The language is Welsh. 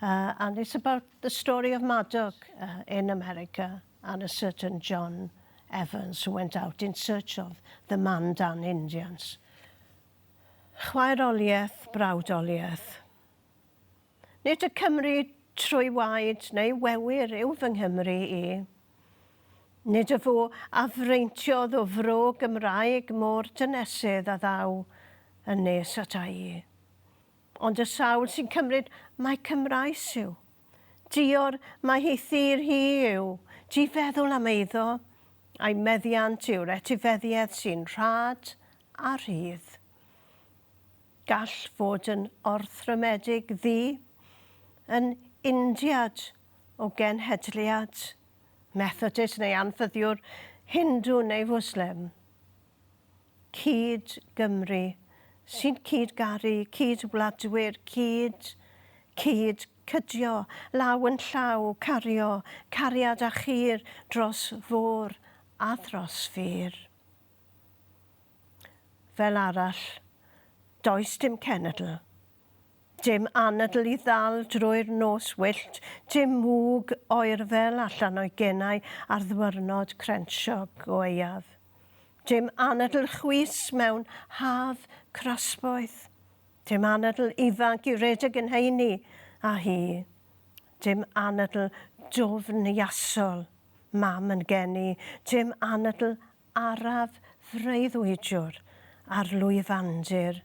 uh, and it's about the story of Madoc uh, in America and a certain John Evans who went out in search of the Mandan Indians. Chwaeroliaeth, brawdoliaeth. Nid y Cymru trwy waed neu wewyr yw fy Nghymru i. Nid y fo a freintionodd o fro Gymraeg mor dynesydd a ddaw yn nes at a'i. Ond y sawl sy'n cymryd mai Cymraes yw? Dior mai hi thir hi yw, di feddwl am eiddo, a'i meddiant yw'r etifeddiaeth sy'n rhad a rhydd. Gall fod yn orthrymedig ddi, yn Indiad o genhedliad, Methodist neu anffyddiwr, Hindw neu Fwslem. cyd Gymru, sy'n cyd garu, cyd wladwyr, cyd, cyd cydio, law yn llaw, cario, cariad a chir dros fôr a thros fur. Fel arall, does dim cenedl Dim anadl i ddal drwy'r nos wyllt, dim mwg oerfel allan o'i genau ar ddwyrnod crensio gwaeaf. Dim anadl chwys mewn haf crasboeth. Dim anadl ifanc i redeg yn heini â hi. Dim anadl dwfn iasol mam yn geni, dim anadl araf freuddwydiwr ar lwyfandir